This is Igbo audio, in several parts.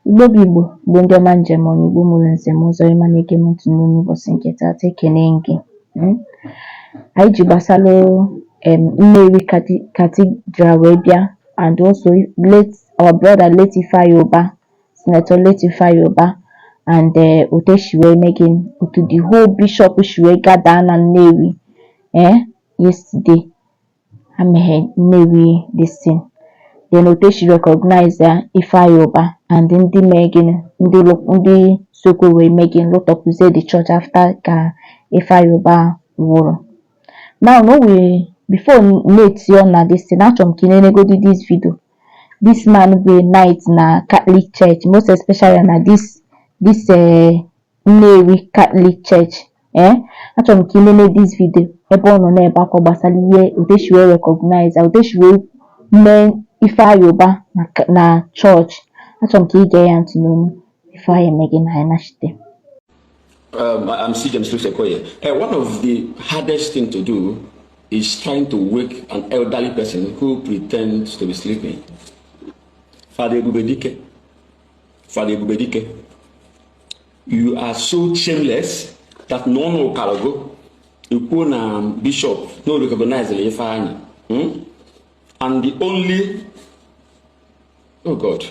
Igbo bụ Igbo bụ ndị ọma eji eme ọnụ Igbo mụrụ nze mụọ ọzọ ịma na-ege m ntị n'ụbọchị nke taata ekene gị hmm? anyị ji gbasara um Nnewi Cathedral wee bịa and also our brother late Ifeanyi Ubah Senator late Ifeanyi Ubah and eh, otu esi wee mee gịnị otu the whole bishop si wee gather na Nnewi ee eh? yesterday emeghe Nnewi this thing then otu esi recognize ya Ifeanyi Ubah and ndị mee gịnị ndị ndị sokwu wee mee gịnị lụtọpụzie the church after ka Ifeanyi Ubah nwụrụ now na o wee before m etie ọnụ na this thing achọrọ m ka ị nenegodi this video this man bụ a knight na Catholic Church most especially na this this uh, Nnewi Catholic Church ee achọrọ m ka ị nene this video ebe ọ nọ na-ebe akwa gbasara ihe otu esi wee recognize otu esi wee mee Ifeanyi Ubah na na church achọrọ m ka ị gee ya ntị n'ọnụ before anyị eme gịnị anyị nachite Um, I'm Sir James Louis Okoye. Uh, one of the hardest thing to do is trying to wake an elderly person who pretends to be sleeping. Father Ebubedike. Father Ebubedike. you are so shameless that na ọnụ kara gị ikwu na bishop no recognize na Ifeanyi hmm? and the only oh god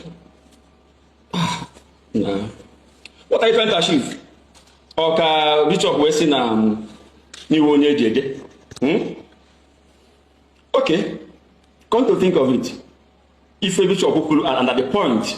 ah, na what are you trying to achieve ok bishop wee si na um, n'iwu onye eji ede hmm? ok come to think of it ife bishop kwuru and at the point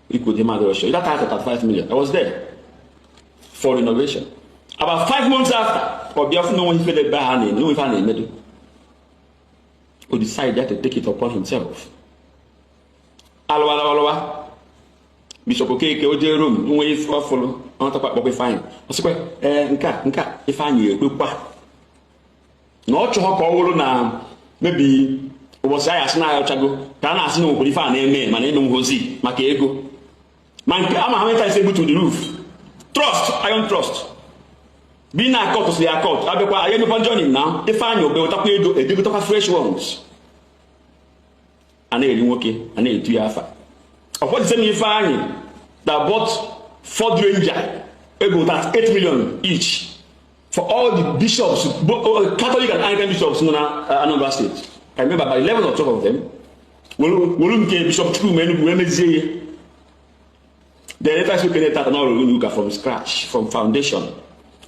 Ikwu the mother show. That house at 5 million. I was there for renovation. About five months after, or Biafra no one he fed by hand, no one found in middle. Who decided to take it upon himself. A lụwa alụwa. Bishop Okeke o jee Rome nwe ife ọ fụlụ ọ natakwa kpọkwa Ifeanyi. Ọ sịkwa ee nke a nke a Ifeanyi ekwekwa na ọ chọghọ ka ọ wụrụ na maybe ụbọchị ahịa asị na-ayọchago ka a na-asị na nwekwara ife a na-eme mana eme nhozi maka ego ma nke ama how many times e butu the roof truss iron truss bi na a cut si a cut a bịakwa anyị emekwa joining na Ifeanyi Ubah ewetakwa ego e je gotakwa fresh ones a na-eri nwoke a na-etu ya afa ọ bụ this same Ifeanyi that bought Ford Ranger ego 8 million each for all the bishops both uh, catholic and anglican bishops nọ na uh, anambra state i remember by 11 or 12 of them wolu nke bishop Chukwuma Enugwu wee mezie ihe the later so kene taata na ọrụ ụlọ ụka from scratch from foundation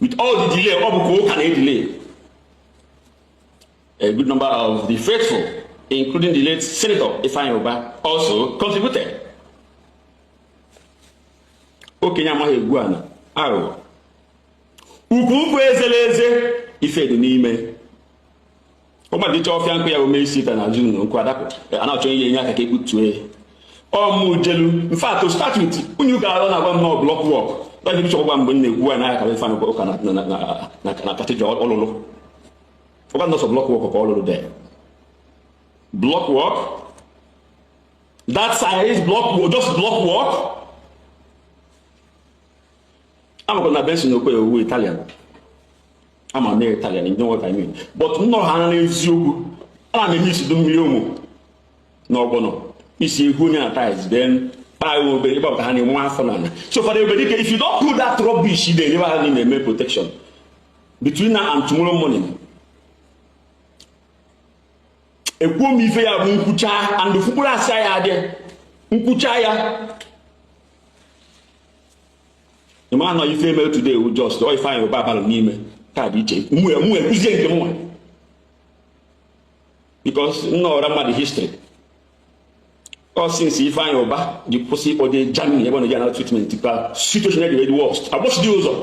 with all the delay ọ bụ ka ụka na-edelay A good number of the faithful, including the late Senator Ifeanyi Ubah, also contributed. Okenye amaghị egwu ana aghụghọ. Ukwu ukwu ezela eze ife dị n'ime. Ọgbadicha ọfịa nkụ ya ome isi ta na azụ na nkụ adapụ a na-achọ ihe enye aka ka egbutue ya. ọmụjelu in fact to start with unu ga-anọ na-agwa m na block work dọkịta chọgwa mgbe m na-ekwu ya n'aka Ifeanyi Ubah na cathedral ọ lụlụ ọ bụ na sọ block work ka ọ lụrụ the block work that size block work just block work amakwa na benson okwe owu italian ama m italian ndị nweta ime but nnọrọ ha na eziokwu ana m eme isi du mmiri ụmụ na ọgbọnọ isi egwu onye na tiles then kpaa obe ebe ọ ka ha na-enwe afọ n'ala so fọdụ ebe dịka if you don't put that rubbish ị na-enyebe ha na-eme protection between now and tomorrow morning ekwuo m ife ya bụ nkwucha and fukpuru asa ya adị nkwucha ya ịma nọ ife eme today wu just ọ Ifeanyi Ubah abalị n'ime ka dị iche mụ ekwuzie nke mụnwa because nna ọra mmadụ history ọ since Ifeanyi Ubah ji kwụsị ịkpọje Germany ebe ọ na-eji anara treatment ka situation dị worst agbụsị dị ụzọ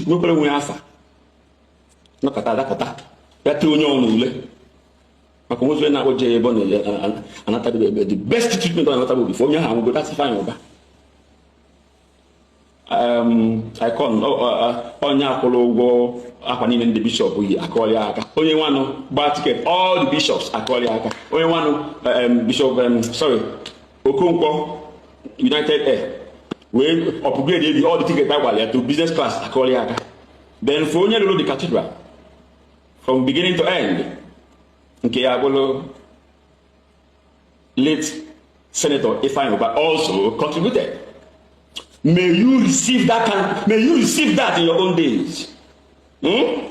nwekwara nwe afa nakọta adakọta ya tiri onye ọnụ ule maka nwefe na-akpọ je ebe ọ na-anatabe ebe the best treatment ọ na-anatabe before onye ahụ anwụgo that's Ifeanyi Ubah icon onye kwụrụ ụgwọ akwa niile ndị bishop yi akụọlụ ya aka onye nwanụ gbaa ticket all the bishops akụọlụ ya aka onye nwanụ bishop sorry Okonkwo United Air wee upgrade ebi all the ticket a gbara ya to business class akụọrọ ya aka then for onye lụrụ the cathedral from beginning to end nke ya bụrụ late senator Ifeanyi Ubah also contributed may you receive that kind may you receive that in your own days hmm?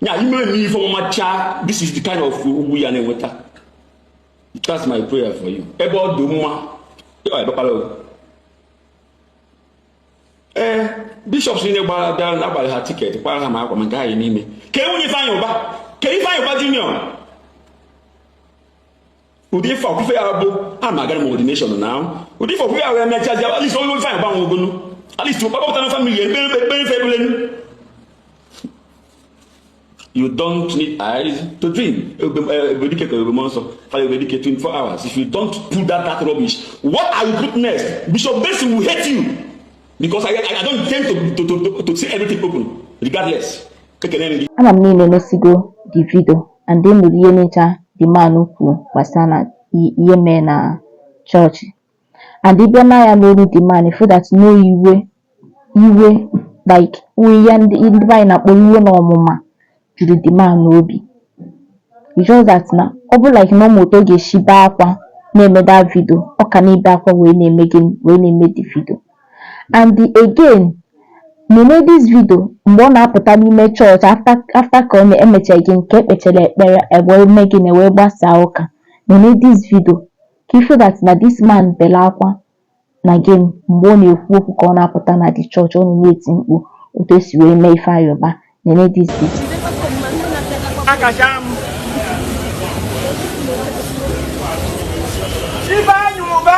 ya ime eme ife ọma mechaa this is the kind of ugwu ya na-enweta That's my prayer for you. Ebe ọ dị mma ee eh, bishops niile gbara bịara na a gbaalụ ha ticket kwara ha ma akwa ma nke anyị n'ime ka nwunye Ifeanyi Ubah ka Ifeanyi Ubah junior ụdị ife ọkụfe ya bụ a ma agara m ordination na ahụ ụdị ife ọkụfe ya wee mechaa ji at least onye Ifeanyi Ubah nwe ogonu at least ụkpakọpụta na family ekpere ekpere ekpere You don't need eyes to dream. Ebubedike ka Ebube Mụọnsọ, Father Ebubedike 24 hours. If you don't put that that rubbish, what are you put next? Bishop Benson will hate you because I, I, I don't intend to, to, to, to, to say everything open regardless. Ama m na unu enesigo the video and then nụrụ ihe ncha the man kwuru gbasara ihe mee na chọọchị. and ị bịa na ya n'olu the man ị fụ that na iwe iwe like ihe ndị ndị be anyị na-akpọ iwe na ọnụma juru the man n'obi it's just that na ọ bụ like na ọ marọ otu ọ ga-esi bee akwa na-eme that video ọ ka na-ebe akwa wee na-eme gịnị wee na-eme the video and again nene this video mgbe ọ na-apụta n'ime chọọchị after after ka ọ na-emecha gịnị ka e kpechara ekpere e wee mee gịnị wee gbasaa ụka nene this video ka ị fụ that na this man bere akwa na gịnị mgbe ọ na-ekwu okwu ka ọ na-apụta na the church ọ nọ na-eti mkpu otu esi wee mee Ifeanyi Uba nene this video Ifeanyi Uba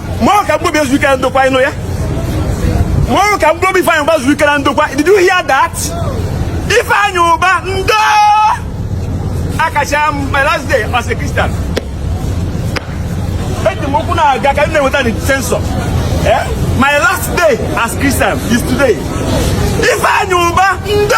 mmanwụ ka mkpụrụobi ya zuo ike na ndokwa ị nụ ya mmanwụ ka mkpụrụobi Ifeanyi Uba zuru ike na ndokwa did you hear that Ifeanyi Uba ndo akachaa m my last day as a Christian eji m ụkwụ na-aga ka m na-enweta the sensor eh? my last day as Christian is today Ifeanyi Uba ndo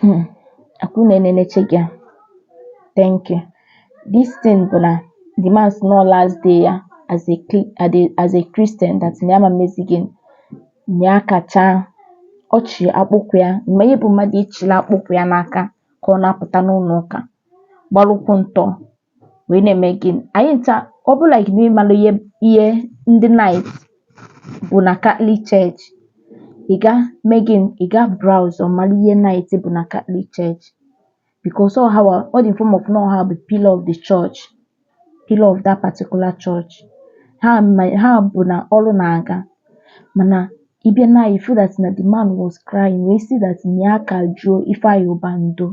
Hmm. Akwụna eneleche gị a. Thank you. This thing bụ na the man sị na last day ya as a cli- as a- as a Christian that na ya ma mezi gịnị na ya akachaa ọ chị akpụkwụ ya ị ma ihe bụ mmadụ ịchịla akpụkwụ ya n'aka ka ọ na-apụta n'ụlọ ụka gbalụ ụkwụ ntọ wee na-eme gịnị anyị ncha ọ bụ like na ị marọ ihe ihe ndị knight bụ na Catholic Church ị ga mee gịnị ị ga browse ọ mara ihe knight bụ na Catholic Church because ọ hanwa ọ dị in form of na ọ hanwa bụ pillar of the church pillar of that particular church ha ma ha bụ na ọrụ na-aga mana ị bịa na ya ị fụ that na the man was crying wee sị that na ya ka jụọ Ifeanyi Uba ndo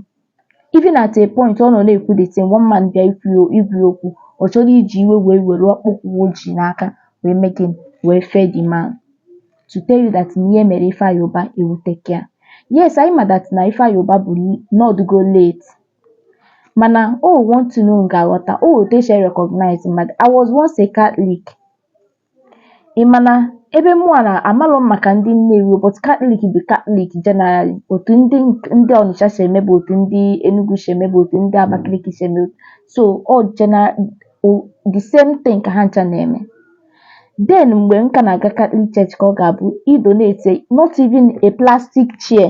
Even at a point ọ nọ na-ekwu the thing one man bịa ịgwa ya ịgwa ya okwu ọ chọrọ iji iwe wee were akpụkwụ o ji n'aka wee mee gịnị wee fee the man to tell you that na ihe mere Ifeanyi Uba ewuteke ya yes anyị ma that na Ifeanyi Uba bụ na ọ dịgo late mana o nwe one thing unu ga-aghọta o nwe otu esi recognize mmadụ I was once a Catholic Ị ma na ebe mụnwa na amarọ m maka ndị Nnewi o, but Catholic bụ Catholic generally. Otu ndị ndị Ọnịcha si eme bụ otu ndị Enugu si eme bụ otu ndị Abakaliki si eme. So ọ general o- the same thing ka ha ncha na-eme. Then mgbe m ka na-aga Catholic church ka ọ ga-abụ i donate not even a plastic chair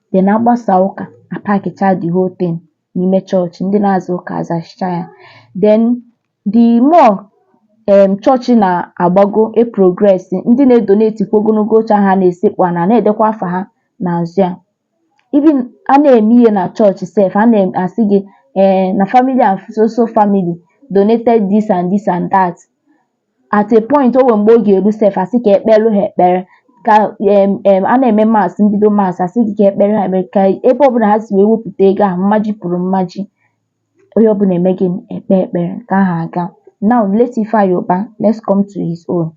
Then a gbasaa ụka, a pakịchaa the whole thing n'ime chọọchị, ndị na-aza ụka azachicha ya. Then the more um chọọchị na-agbago e progress, ndị na-edonate kwa ogologo oche ahụ a na-esekpu ana, a na-edekwa afa ha n'azụ ya. Even a na-eme ihe na chọọchị sef, a na-asị gị um na family and so so family donated this and this and that. at a point o nwere mgbe ọ ga-eru sef a sị ka e kpeere ha ekpere ka em em a na-eme Mass mbido Mass a sị gị ka e kpeere ha ekpere ka ebe ọbụla ha si wee wepụta ego ahụ mmaji kwuru mmaji onye ọbụla eme gịnị ekpe ekpere ka aha aga now late Ifeanyi Ubah let's come to his own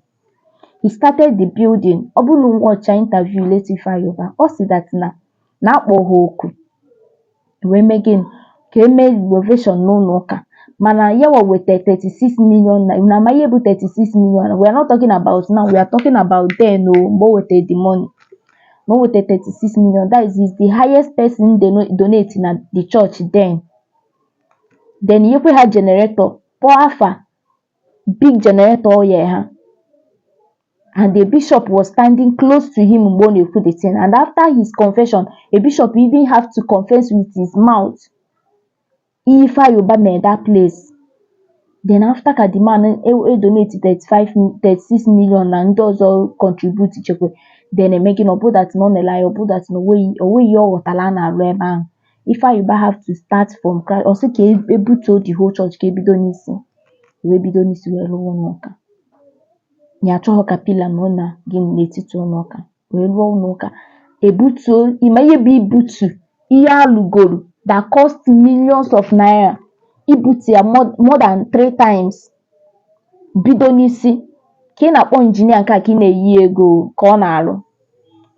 he started the building ọ bụrụ na ị watch interview late Ifeanyi Ubah ọ sị that na na a kpọ ha oku wee mee gịnị ka e mee renovation n'ụlọ ụka mana ya nwa weta 36 million naira unu ama ihe bụ 36 million we are not talking about now we are talking about then o mgbe o wetara the money na o wetara 36 million that is is the highest person dono- donate na the church then then nyekwe ha generator kpọọ afa big generator o nye ha and the bishop was standing close to him mgbe ọ na-ekwu the thing and after his confession a bishop even have to confess with his mouth ihe Ifeanyi Ubah mere that place then after ka the man e e donate 35 mi- 36 million na ndị ọzọ contribute chekwe then eme gịnị na ọ bụ that na ọ na-ele anya ọ bụ that na onweghị onweghị ihe ọ ghọtara a na-arụ ebe ahụ Ifeanyi Ubah have to start from scratch ọ sị ka e- ebutuo the whole church ka ebido n'isi wee bido n'isi wee rụwa ụlọ ụka ya achọhọ ka pillar nọ na gịnị n'etiti ụlọ ụka wee rụọ ụlọ ụka ebutuo ị ma ihe bụ ibutu ihe alụgoro that cost millions of naira ibutu ya more more than three times bido n'isi ka ị na-akpọ injinia nke a ka ị na-enye ya ego ka ọ na-arụ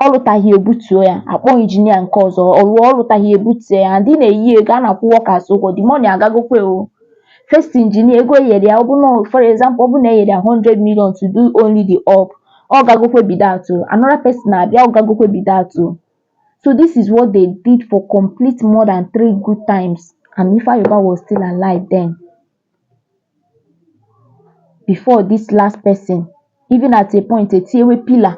ọ lụtaghị ebutuo ya akpọ injinia nke ọzọ ọ lụọ ọ lụtaghị ebutuo ya and ị na-enye ya ego a na-akwụ workers ụgwọ the money agagokwe o first injinia ego e nyere ya ọ bụ na for example ọ bụ na e nyere ya 100 million to do only the up ọ gagokwe be that o another person abịa ọ gagokwe be that o so this is what they did for complete more than three good times and Ifeanyi Ubah was still alive then before this last person even at a point etinyewe pillar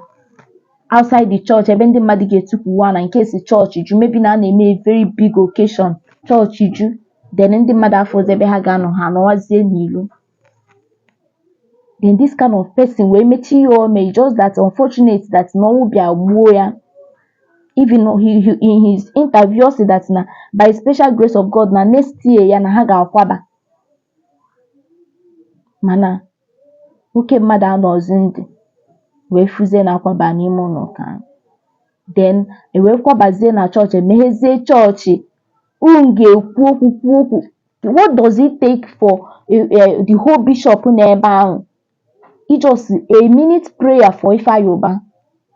outside the church ebe ndị mmadụ ga-etukwuwa na in case chọọchị ju maybe na a na-eme a very big occasion chọọchị ju then ndị mmadụ afọzi ebe ha ga-anọ ha anọwazie n'ilo then this kind of person wee mechaa ihe o mee just that unfortunate that na ọnwụ bịa gbuo ya Even he, he, in his interview, said that na by special grace of God na next year ya na ha ga-akwaba mana oke mmadụ anọzi ndụ wee fụzie na akwaba n'ime ụlọ ụka ahụ then e wee kwabazie na chọọchị emeghezie chọọchị ndị ga-ekwu okwu kwuo okwu what does it take for uh, uh, the whole bishop n'ebe ahụ Just a minute prayer for Ifeanyi Ubah,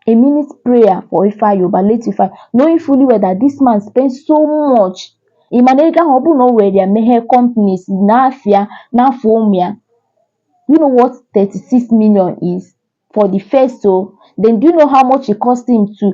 a minute prayer for Ifeanyi Ubah, late Ifeanyi, knowing fully well that this man spent so much. Ị ma na ego ahụ ọ bụrụ na o were ya meghee companies n'afa ya n'afa ụmụ ya, do you know what 36 million is for the first o? Then do you know how much it cost him to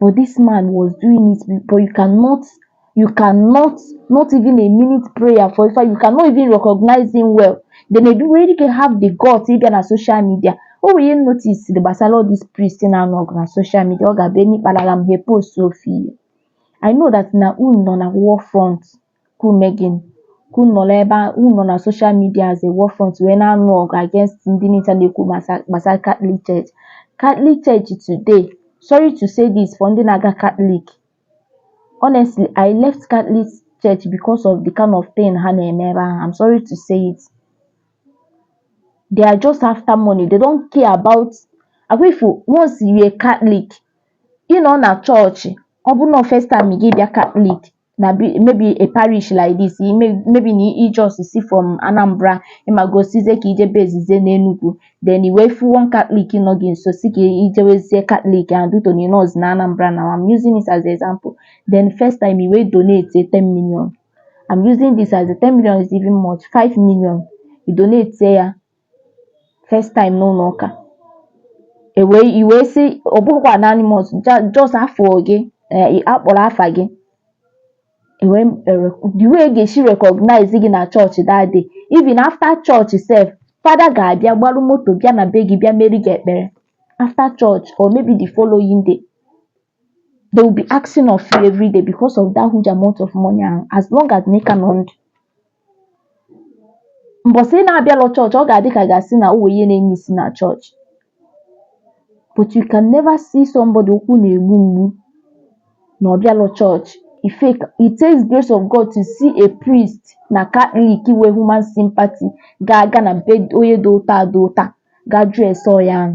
But this man was doing it but you cannot you cannot not even a minute prayer for Ifeanyi you cannot even recognize him well then edu nwere ike have the guts ịbịa na social media o nwere ihe notice gbasara all these priests na-anụ ọgụ na social media ọ ga-abụ e mee kpalalam ha epostuo ife I know that na unu nọ na war front ka ume gị ka unu nọrọ ebe a unu nọ na social media as a war front wee na-anụ ọgụ against ndị niile na-ekwu gbasa- gbasara Catholic Church Catholic Church today sorry to say this for ndị na-aga Catholic honestly I left Catholic Church because of the kind of thing ha na-eme ebe ahụ I'm sorry to say it they are just after money they don't care about agwa ifu once you're a Catholic ị nọ na chọọchị ọ bụrụ na first time gị bịa Catholic na be- maybe a parish like this i may- maybe na i just si from anambra ịmago sizie ka ije bezizie n'enugwu then i wee fụ one catholic nọ gị nso si ka ijewezie catholic and duto na ịnọz na anambra now i'm using it as example then first time i wee donate 10 million i'm using this as a 10 million is even much 5 million i donate ya first time n'ụlọ ụka e wee, ị wee sị ọ bụghịkwa anonymous just afa gị eh, a kpọrọ afa gị ewe eh, the way e ga-esi recognize gị na chọọchị that day even after chọọchị sef fada ga-abịa gbarụ moto bịa na be gị bịa meere gị ekpere after church or maybe the following day They will be asking of you every day because of that huge amount of money ahụ as long as na ị ka nọ ndụ. Mbọsị ị na-abịalọ chọọchị, ọ ga-adị ka ga-asị na o nwere ihe na-emissi na chọọchị. But you can never see somebody ụkwụ na-egbu mgbu na ọ bịalọ chọọchị. It take. It takes grace of God to see a priest na Catholic nwee human sympathy ga-aga na be onye dị otu a dị otu a gaa jụọ ese onye ahụ.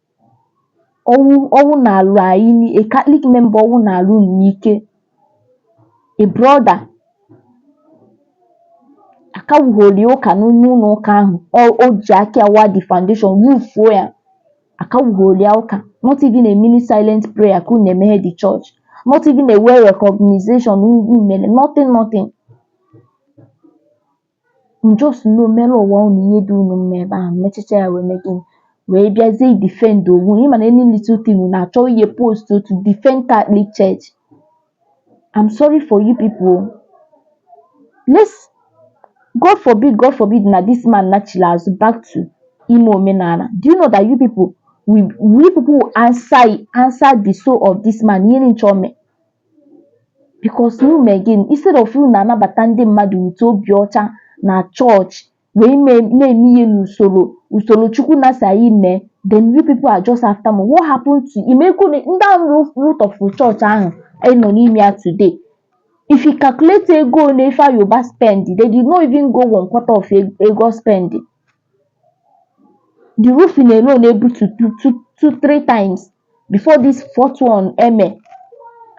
ọnwụ ọnwụ nalụ anyị ni a Catholic member ọnwụ nalụ unu n'ike a brother akawughori ụka n'ime ụlọ ụka ahụ ọ o ji aka ya waa the foundation wufuo ya akawughori ya ụka not even a minute silent prayer ka unu na-emeghe the church not even a well recognition unu mere nothing nothing just nọ mere onwe unu ihe dị unu mma ebe ahụ mechicha ya wee mee gịnị wee bịazie defend onwe unu ịma na any little thing unu achọ ihe post to defend Catholic Church I'm sorry for you people let's God forbid God forbid na this man nachiri azụ back to ime omenala do you know that you people we, we people will answer answer the soul of this man ihe nchọ mee Because unu mee gịnị? Instead of unu na-anabata ndị mmadụ with obi ọcha na chọọchị wee ime na-eme ihe n'usoro usoro Chukwu nna sị anyị mee then you people are just after money. What happened to ị ma ego ole ndị ahụ roof root of chọọchị ahụ anyị nọ n'ime ya today? If you calculate ego ole Ifeanyi Ubah spend, they did not even go one quarter of ego ọ spend. the roofing alone able to do two two three times before this fourth one eme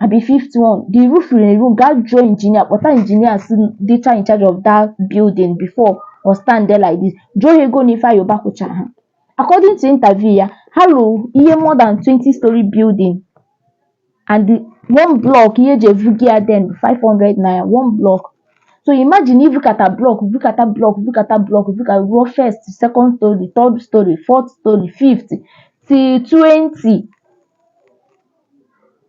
abi fifth one the roofing alone gat draw engineer kpọta engineer si dịcha in charge of that building before ọ stand there like this jụọ ha ego n'ife a yoruba kwụchara ha according to interview ya ha lụrụ ihe more than 20 story building and the one block ihe eji evugo ya then bụ 500 naira one block so imagine i vukata block vukata block vukata block vuka ruo first second story third story fourth story fifth till 20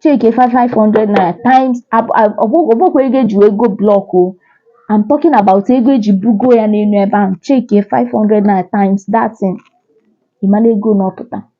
check 500 naira times ọ bụkwa ego eji wee goo block o I'm talking about ego eji bugo ya n'elu ebe ahụ check 500 naira times that thing ị mara ego ọ na-apụta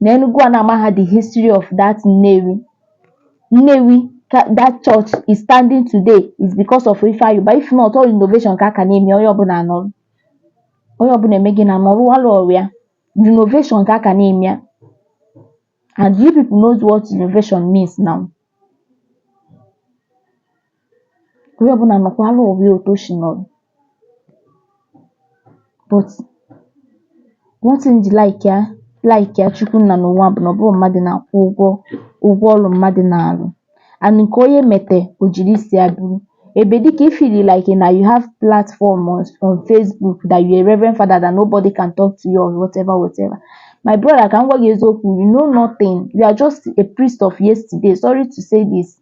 na Enugu a na-amaha the history of that Nnewi Nnewi ka that church is standing today is because of Ifeanyi Ubah if not all innovation ka a ka na-eme onye ọbụla anọrọ onye ọbụla emee gịnị anọrọ alụ ọrụ ya innovation ka a ka na-eme ya and you people knows what innovation means now onye ọbụla anọkwara onwe ya otu o si nọrọ but one thing m ji like ya like ya Chukwu nna n'ụwa bụ na ọ bụghị mmadụ na-akwụ ụgwọ ọrụ mmadụ na-arụ and nke onye mete o jiri isi ya buru ebe dịka ị feel like na you have platform on, on Facebook that you are a reverend father that nobody can talk to you or whatever whatever my brother ka m gwa gị eziokwu you know nothing you are just a priest of yesterday sorry to say this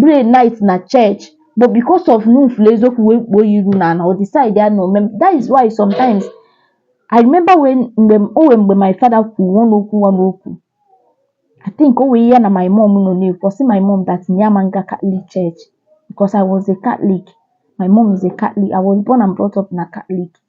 Pray night na church but because of na ọ fụlụ eziokwu wee kpuo ya iru n'ala ọ decide ya no that is why sometimes I remember when mgbe m- o nwee mgbe my father kwuru one okwu one okwu I think o nwee ihe ya na my mom nọ na-ekwu ọ sị my mom that na ya ma nga Catholic church because I was a Catholic my mom is a Catholic I was born and brought up na Catholic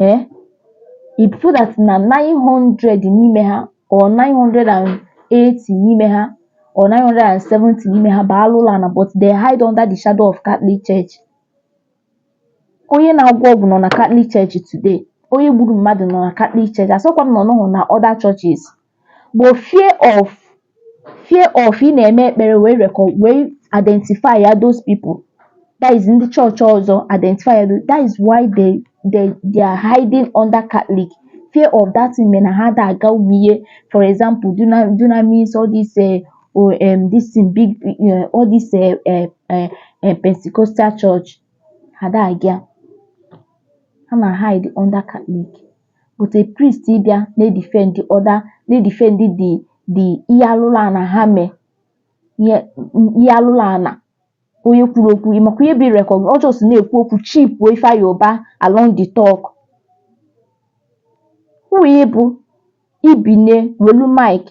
ee eh? ị fụ that na 900 n'ime ha or 980 n'ime ha or 970 n'ime ha bụ alụlụana but they hide under the shadow of Catholic Church onye na-agwọ ọgwụ nọ na Catholic Church today onye gburu mmadụ nọ na Catholic Church asịkwa m na ọ nọhụ na other churches but fear of fear of ị na-eme ekpere wee rekọ wee identify ya those people that is ndị chọọchị ọzọ identify ya tho- that is why they they they are hiding under Catholic fear of that thing mere na ha da aga ụmụ ihe for example duna dunamis all this eh, oh, um, this thing big eh, all this eh, eh, eh, eh, Pentecostal church ha da aga ha na hide under Catholic but a priest ịbịa na-edefend other na-edefend the the ihe alụlụ ana ha mee ihe ihe alụlụ ana onye kwuru okwu ị makwa ihe bụ irecog ọ just na-ekwu okwu chipuo Ifeanyi Ubah along the talk who ị bụ ibine welu mic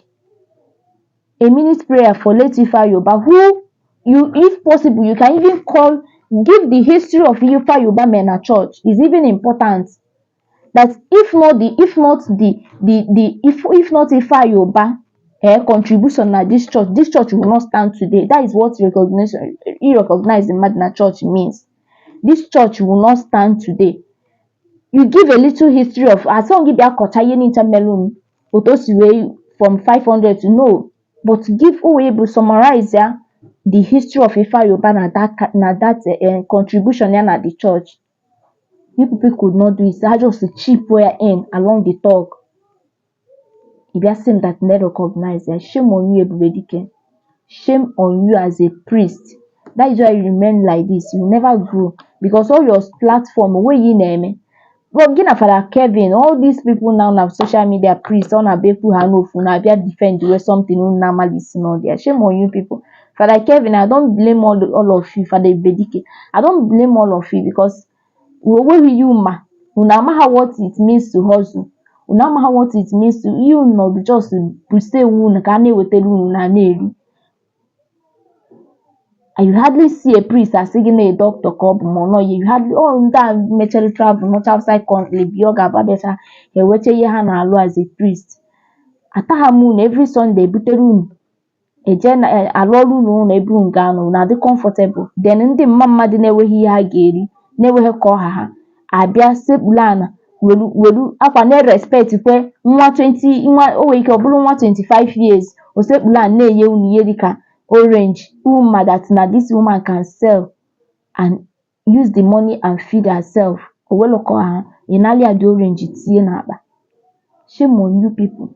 a minute prayer for late Ifeanyi Ubah who you if possible you can even call give the history of Ifeanyi Ubah mee na church is even important that if not the if not the the the if if not Ifeanyi Ubah eh, contribution na this church this church will not stand today that is what recognition irecognize mmadụ na church means this church will not stand today you give a little history of a sịrọ gị bịa kọcha ihe niile melụnụ otu o si wee from 500 to no but give uwe bụ summarize ya the history of Ifeanyi Ubah na that ca- na that eh, contribution ya na the church you people could not do it ha just chip ya in along the talk ị bịa sị m that na recognize ya shame on you ebube dike shame on you as a priest that is why you remain like this you never grow because all your platform wey you na-eme but gị na fada kevin all these people now na social media priest ọ na-abịa ekwu ha n'ofu na-abịa defend wey something unu na-amalisi n'ọdịa shame on you people Father Kevin, I don't blame all, all of you, Father Ibedike. I don't blame all of you because o nwerọ ihe unu ma. Unu amaha what it means to hustle. Unu amaha what it means to you know just to stay unu ka na ewetara unu na na-eri. You hardly see a priest asị gị na a doctor ka ọ bụ ma ọ nọghị. You hardly all ndị a mechara travel nọcha outside country bi ọ ga-abụ abịacha ha ewecha ihe ha na-alụ as a priest. Ataha m unu every Sunday ebutere unu eje na e, arụọrọ unu ụlọ ebe unu ga-anọ unu adị comfortable then ndị mma mmadụ na-enweghị ihe ha ga-eri na-enweghị ka ọ ha ha abịa sekpulu ana welu welu akwa na-erespect kwe nwa 20 nwa o nwere ike ọ bụrụ nwa 25 years o sekpulu ana na-enye unu ihe dịka orange unu ma that na this woman can sell and use the money and feed herself o welu ka ọ ha ị nalị ya the orange tinye n'akpa shame on you people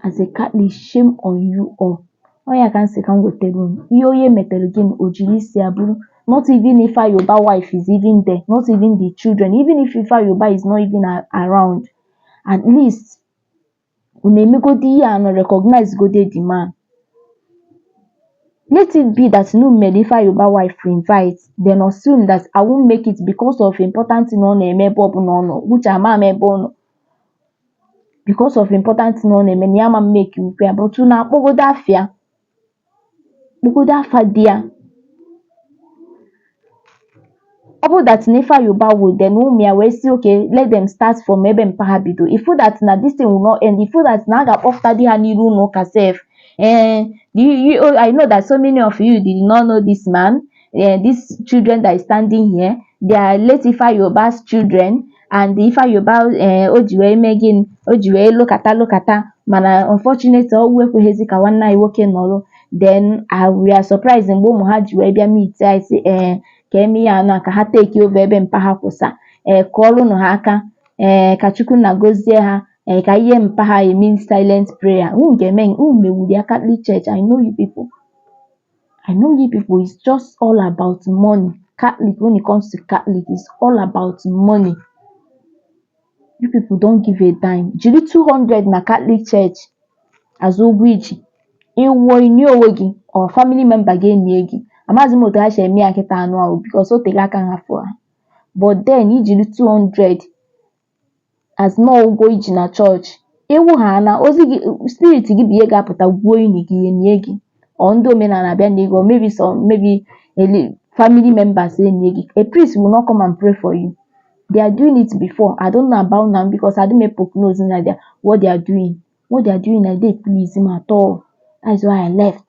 as a Catholic shame on you all ọ ya ka m sị ka m wetara unu ihe onye metere gị na o jiri isi ya buru not even Ifeanyi Ubah wife is even there not even the children even if Ifeanyi Ubah is not even a- around at least unu emegodo ihe a unu recognize gode the man let it be that unu mere Ifeanyi Ubah wife invite then assume that i won't make it because of important thing ọ na-eme ebe ọbụla ọ nọ which ama m ebe ọ nọ because of important thing ọ na-eme na ya ama make ife a but unu akpọgodo afa ya kpọgodu afa di ya ọ bụrụ that na Ifeanyi Ubah nwụọ then ụmụ ya wee sị okay let them start from ebe mpa ha bido ịfụ that na this thing will not end ịfụ that na a ga-akpọpụtadị ha n'iru ụlọ ụka sef eh you, you, oh, i know that so many of you did not know this man eh, these children that is standing here they are late Ifeanyi Ubah's children and Ifeanyi Ubah ee eh, o ji wee mee gịnị o ji wee lụkata lụkata mana unfortunately ọnwụ ekweghịzi ka nwanne anyị nwoke nọrọ then ah, we are surprised mgbe ụmụ ha ji wee bịa meet anyị sị ee eh, ka e mee ya nụ ka ha take over ebe mpa ha kwụsa ee eh, kụọrụnụ ha aka ee ka Chukwu na gozie ha ee ka ihe mpa ha eme silent prayer unu ga-eme unu mewuru ya Catholic Church I know you people I know you people is just all about money Catholic when it comes to Catholic is all about money you people don't give a dime jiri 200 na Catholic church as ụgwọ i ji ị nwụọ i nie onwe gị or family member gị enie gị amaghịzi m otu ha si eme ya kịta anụ ahụ because o tere aka hafụọ ha but then i jiri 200 as na ụgwọ i ji na chọọchị ị nwụọ ha na ozu gị spirit gị bụ ihe ga-apụta gwuo ini gị nie gị or ndị omenala abịa nie gị maybe so maybe ele family members enie gị a priest will not come and pray for you they are doing it before i don't know about now because i don't poke nose na their what they are doing what they are doing adịghị please m at all that is why i left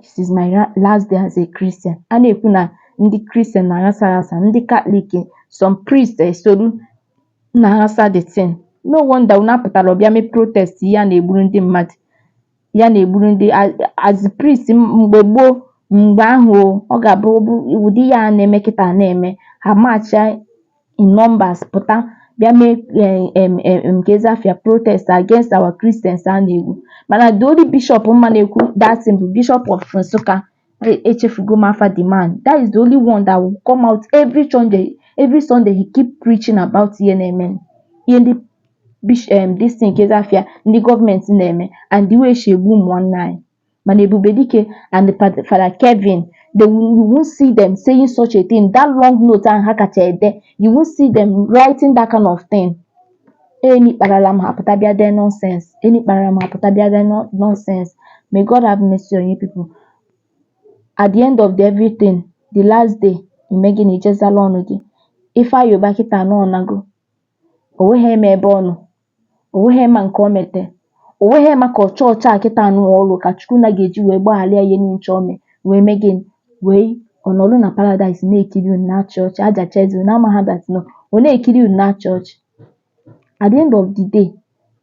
this is my last day as a Christian a na-ekwu na ndị Christian na-aghasa aghasa ndị Katọlik some priest esoro na-aghasa the thing no wonder unu apụtarọ bịa mee protest ya na-egburu ndị mmadụ ya na-egburu ndị as priest mgbe gboo mgbe ahụ ọ ga-abụ ụdị ihe a na-eme kịta na-eme ha march in numbers pụta bịa mee em em em kezi afa ya protest against our Christians a na-egbu mana the only bishop m ma na-ekwu that thing bụ bishop of Nsukka E- echefugo m afa the man that is the only one that will come out every Sunday every Sunday he keep preaching about ihe na-eme ihe ndị bish em this thing kezi afa ya ndị gọọmenti na-eme and the way e si egbu ụmụ nwanne anyị mana Ebubedike and Fada Fada Kevin they will, you won't see them saying such a thing that long note ahụ ha kacha ede you won't see them writing that kind of thing any kparala m ha pụta bịa dee nonsense any kparala m ha pụta bịa dee no- nonsense may God have mercy on you people at the end of the everything the last day i mee gịnị i jee zala ọnụ gị Ifeanyi Ubah kịta na ọ nago o nweghị eme ebe ọ nọ O weghị ma nke o mete. O weghị maka chọọchị a kịta anụ ọlụ ka Chukwu na ga-eji wee gbaghalị ya ihe niile ncha o me wee mee gịnị wee ọ nọlụ na paradaịs na-ekiri unu na-achị ọchị ajacha eze unu amaghị that no ọ na-ekiri unu na-achị ọchị at the end of the day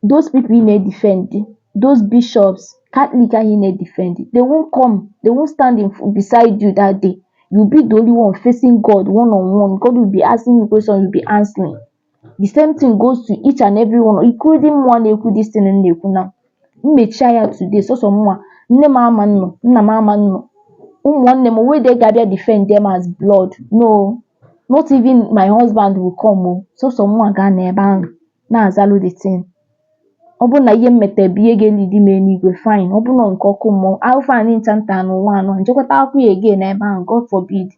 those people ị na-edefend those bishops Catholic ahụ ị na-edefend they won't come they won't stand in, beside you that day you be the only one facing God one on one God will be asking you question you be answering the same thing goes to each and every one including mụnwa na-ekwu this thing m na-ekwu na m mechie anya today sọsọ mụnwa nne m ama nọ nna m ama nọ ụmụ nwanne m o nwedị ga-abịa defend m as blood no not even my husband will come o sọsọ mụnwa ga-anọ ebe ahụ na-azalụ the thing ọ bụrụ na ihe m metere bụ ihe ga-elead m eluigwe fine ọ bụrụ na nke ọkụ mmụọ afụfụ anyị ncha na-ata n'ụwa a nọ m jekwa ta afụfụ ya again ebe ahụ God forbid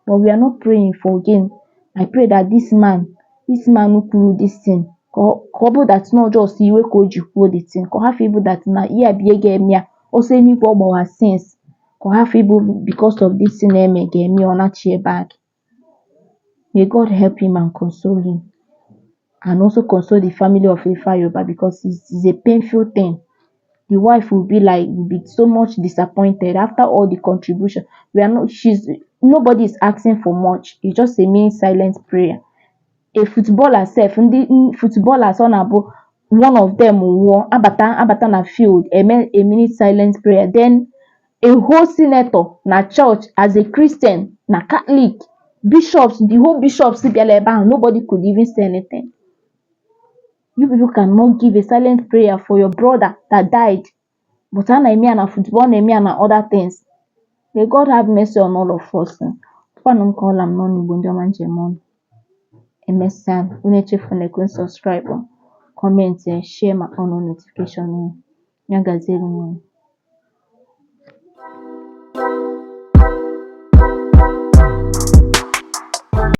but we are not praying for again I pray that this man this man kwuru this thing ka ọ ka ọ bụrụ that na just iwe ka o ji kwuo the thing ka ọ hafụ ịbụ that na ihe a bụ ihe ga-eme ya ọsọ eluigwe ọ gbawa since ka ọ hafụ ịbụ because of this thing eme ga-eme ya ọ nachie back may God help him and console him and also console the family of Ifeanyi Ubah because it's, it's a painful thing the wife will be like will be so much disappointed after all the contribution we are not she's nobody is asking for much it's just a mean silent prayer a footballer sef ndị footballers ọ na-abụ one of them nwụọ abata abata na field eme a minute silent prayer then a whole senator na church as a Christian na Catholic bishops the whole bishops bịara ebe ahụ nobody could even say anything you people cannot give a silent prayer for your brother that died but a na-eme ya na football a na-eme ya na other things may God have mercy on all of us kwanụ m ka ọ la m n'ọnụ Igbo ndị ọma njem ọnụ emesịa unu echefuna like subscribe ọ comment ya share ma on notification unu ya gaziere unu